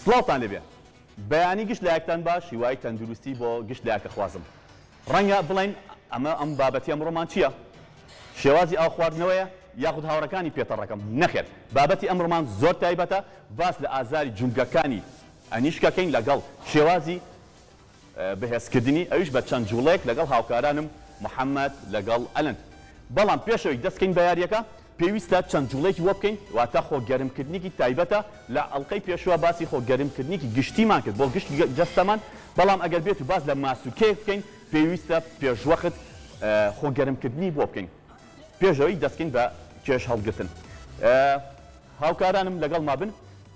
سڵاوتان لێبێ بەیانی گشت لایەکتان باش هیوای تەندروستی بۆ گشت لایەک ئەخوازم ڕەنگە بڵێن ئەمە ئەم بابەتی ئەمڕۆمان چییە شێوازی ئاو خواردنەوەیە یاخود هاوڕەکانی پێتەڕەکەم نەخێر بابەتی ئەمڕۆمان زۆر تایبەتە باس لە ئازاری جومگەکانی ئەنیشکەکەین لەگەڵ شێوازی بەهێزکردنی ئەویش بە چەند جوڵەیەک لەگەڵ هاوکارانم محەمەد لەگەڵ ئەلەند بەڵام پێش ئەوەی دەست کەین بە یاریەکە پێویستە چەند جوڵەیەکی بۆ بکەین واتە خۆ گەرم کردنیکی تایبەتە لە ئەڵقەی پێشوە باسی خۆ گەرم کردنیکی گشتیمان کرد بۆ گشت جەستەمان بەڵام ئەگەر بێتو باس لە ماسولکەیەک بکەین پێویستە پێشوەخت خۆ گەرم کردنی بۆ بکەین پێش ئەوەی دەست کەین بە کێش هەڵگرتن هاوکارانم لەگەڵ مابن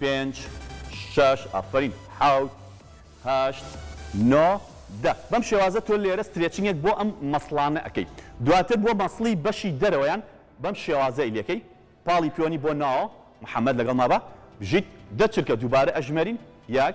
پێنج شەش ئافەرین حەوت هەشت نۆ دە بەم شێوازە تۆ لێرە سترێچنگێک بۆ ئەم مەسڵانە ئەکەی دواتر بۆ مەسڵی بەشی دەرەوەیان بەم شێوازەی لێکەی پاڵی پیۆنی بۆ ناوەوە محمد لەگەڵ مابە بژیت دە چرکە دووبارە ئەژمێرین یەک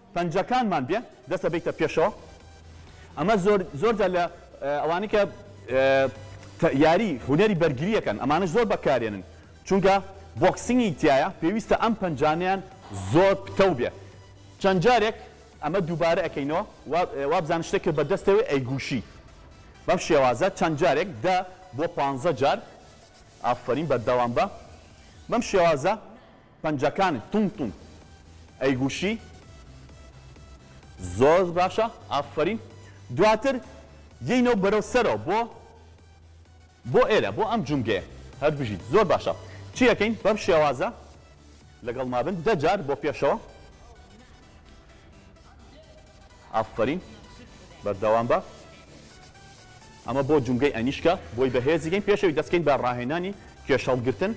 پەنجەکانمان بێ دەست ئەبەیتە پێشەوە ئەمە زۆر زۆر جار لە ئەوانەی کە یاری هونەری بەرگریەکەن ئەمانەش زۆر بەکارێنن چونکە بۆکسینگی تایە پێویستە ئەم پەنجانیان زۆر پتەو بێ چەند جارێک ئەمە دووبارە ئەەکەینەوە وابزان شتێک کرد بە دەستەوەی ئەیگوشی بەم شێوازە چەند جارێک دە بۆ پانزە جار ئافرین بەردەوام بە بەم شێوازە پەنجەکانت توند توند ئەیگوشی زۆر باشە ئافەرین دواتر یەینەو بەرەو سەرەوە بۆ بۆ ئێرە بۆ ئەم جومگەیە هەر بژیت زۆر باشە چی ئەکەین بەم شێوازە لەگەڵمابن دە جار بۆ پێشەوە. ئافەرین بەردەوام بە ئەمە بۆ جومگەی ئەنیشکە بۆی بەهێزیگەین پێشەوی دەستکەین بە ڕاهێنانی کێشەڵگرتن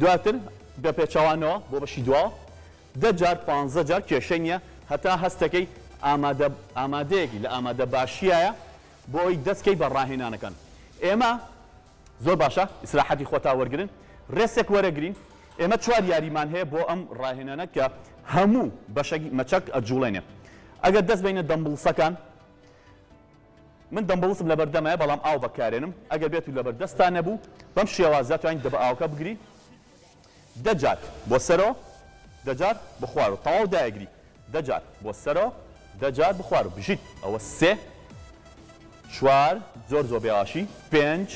دواتر بە پێچوانەوە بۆ بەشی دوا دە جار پ جار کێشە نیە هەتا هەستەکەی ئامادە ئامادەیەکی لە ئامادە باشیایە بۆی دەستکەی بە ڕاهێنانەکان ئێمە زۆر باشە ئیسراحەتی خۆتا وەرگرن رێسێک وەرەگرین ئێمە چوار یاریمان هەیە بۆ ئەم راهێنانە کە هەموو بەشەکی مەچەک ئەجوڵێنێ ئەگەر دەست بینە دەمبڵسەکان من دەمبڵسم لەبەردەمای بەڵام ئاو بەکارێنم ئەگەر بێت و لەبەردەستان نەبوو بەم شێوازە توانین دەبە ئاوکە بگرین دە جار بۆ سەرۆ دە جار بۆ خوارۆ تەواو دایگری دە جار بۆ سەرۆ دە جار بۆ خوارۆ بژیت ئەوە سێ چوار زۆر زۆر بێواشی پێنج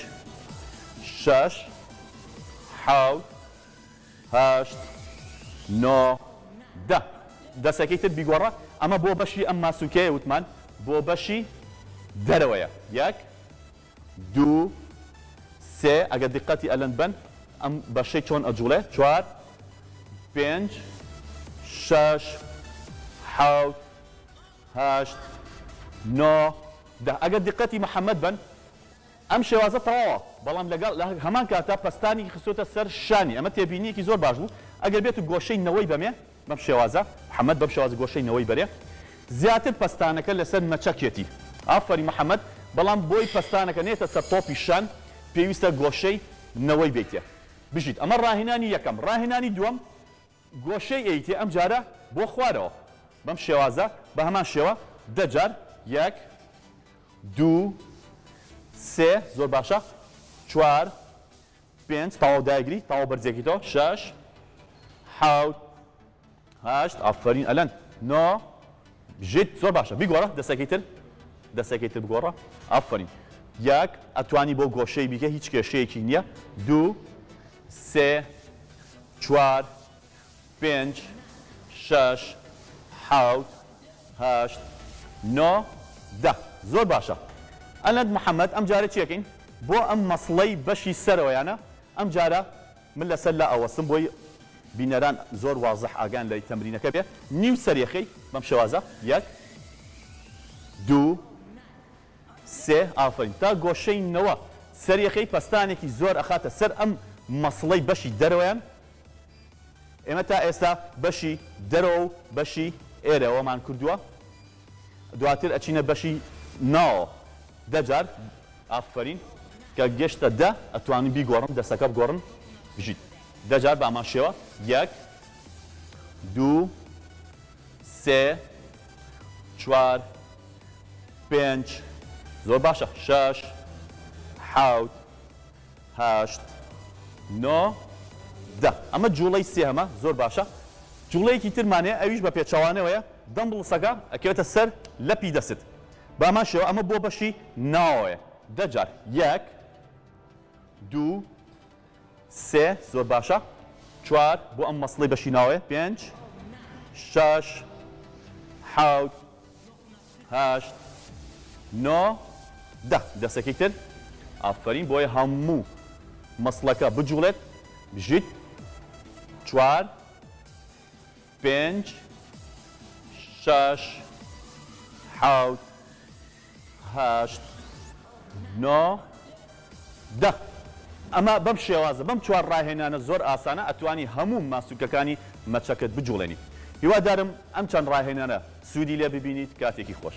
شەش حەوت هەشت نۆ دە دەسەکەی تر بیگۆڕە ئەمە بۆ بەشی ئەم ماسولکەیە وتمان بۆ بەشی دەرەوەیە یەک دوو سێ ئەگەر دیقەتی ئەلەند بەن ئەم بەشەی چۆن ئەجوڵێ چوار پێنج شەش حەوت هەشت نۆ دە ئەگەر دیقەتی محەمەد بەن ئەم شێوازە تەواوە بەڵام لەگەڵ لە هەمان کاتا پەستانی خستۆتە سەر شانی ئەمە تێبینیەکی زۆر باش بوو ئەگەر بێت و گۆشەی نەوەی بەمێ بەم شێوازە محمد بەم شێوازە گۆشەی نەوەی بەرێ زیاتر پەستانەکە لەسەر مەچەکێتی ئافەرین محمد بەڵام بۆی پەستانەکە نێتە سەر تۆپی شان پێویستە گۆشەی نەوەی بێیتێ بژیت ئەمە ڕاهێنانی یەکەم ڕاهێنانی دووەم گۆشەی ئەیتێ ئەم جارە بۆ خوارەوە بەم شێوازە بە هەمان شێوە دە جار یەک دوو سێ زۆر باشە چوار پێنج تەواو دایگری تەواو بەرزێکی تۆ شەش حوت هەشت ئافرین ئەلەند نۆ ژیت زۆر باشە بیگۆڕە دەسەکەی تر دەسەکەی تر بگۆڕە ئافرین یەک ئەتوانی بۆ گۆشەی بیکە هیچ کێشەیەکی نییە دوو سێ چوار پێنج شەش حەوت هەشت نۆ دە زۆر باشە ئەلەند محمد ئەم جارە چیەکەین بۆ ئەم مەسڵەی بەشی سەرەوەیانە ئەم جارە من لەسەر لا ئەوەستم بۆی بینەران زۆر وازح ئاگان لەی تەمرینەکە بێ نیو سەرێخەی بەم شێوازە یەک دوو سێ ئافرین تا گۆشەی نەوە سەرێخەی پەستانێکی زۆر ئەخاتە سەر ئەم مەسڵەی بەشی دەرەوەیان ئێمە تا ئێستا بەشی دەرەوە و بەشی ئێرەوەمان کردووە دواتر ئەچینە بەشی ناوەوە دە جار ئافەرین کە گەشتە دە ئەتوانم بیگۆڕم دەستەکە بگۆڕم بژیت دە جار بە ئەمان شێوە یەک دوو سێ چوار پێنج زۆر باشە شەش حەوت هەشت نۆ دە ئەمە جوڵەی سێهەمە زۆر باشە جوڵەیەکی ترمان هەیە ئەویش بە پێچەوانەوەیە دەمبڵسەکە ئەکەوێتە سەر لەپی دەستت بە هەمان شێوە ئەمە بۆ بەشی ناوەوەیە دە جار یەک دوو سێ زۆر باشە چوار بۆ ئەم مەسڵی بەشی ناوەیە پێنج شەش حەوت هەشت نۆ دە دەسێکی تر ئافەرین بۆیە هەموو مەسڵەکە بجوڵێت بژیت چوار پێنج شەش حەوت هەشت نۆ دە ئەمە بەم شێوازە بەم چوار ڕاهێنانە زۆر ئاسانە ئەتوانی هەموو ماسولکەکانی مەچەکەت بجوڵێنیت هیوادارم ئەم چەند ڕاهێنانە سوودی لێ ببینیت کاتێکی خۆش.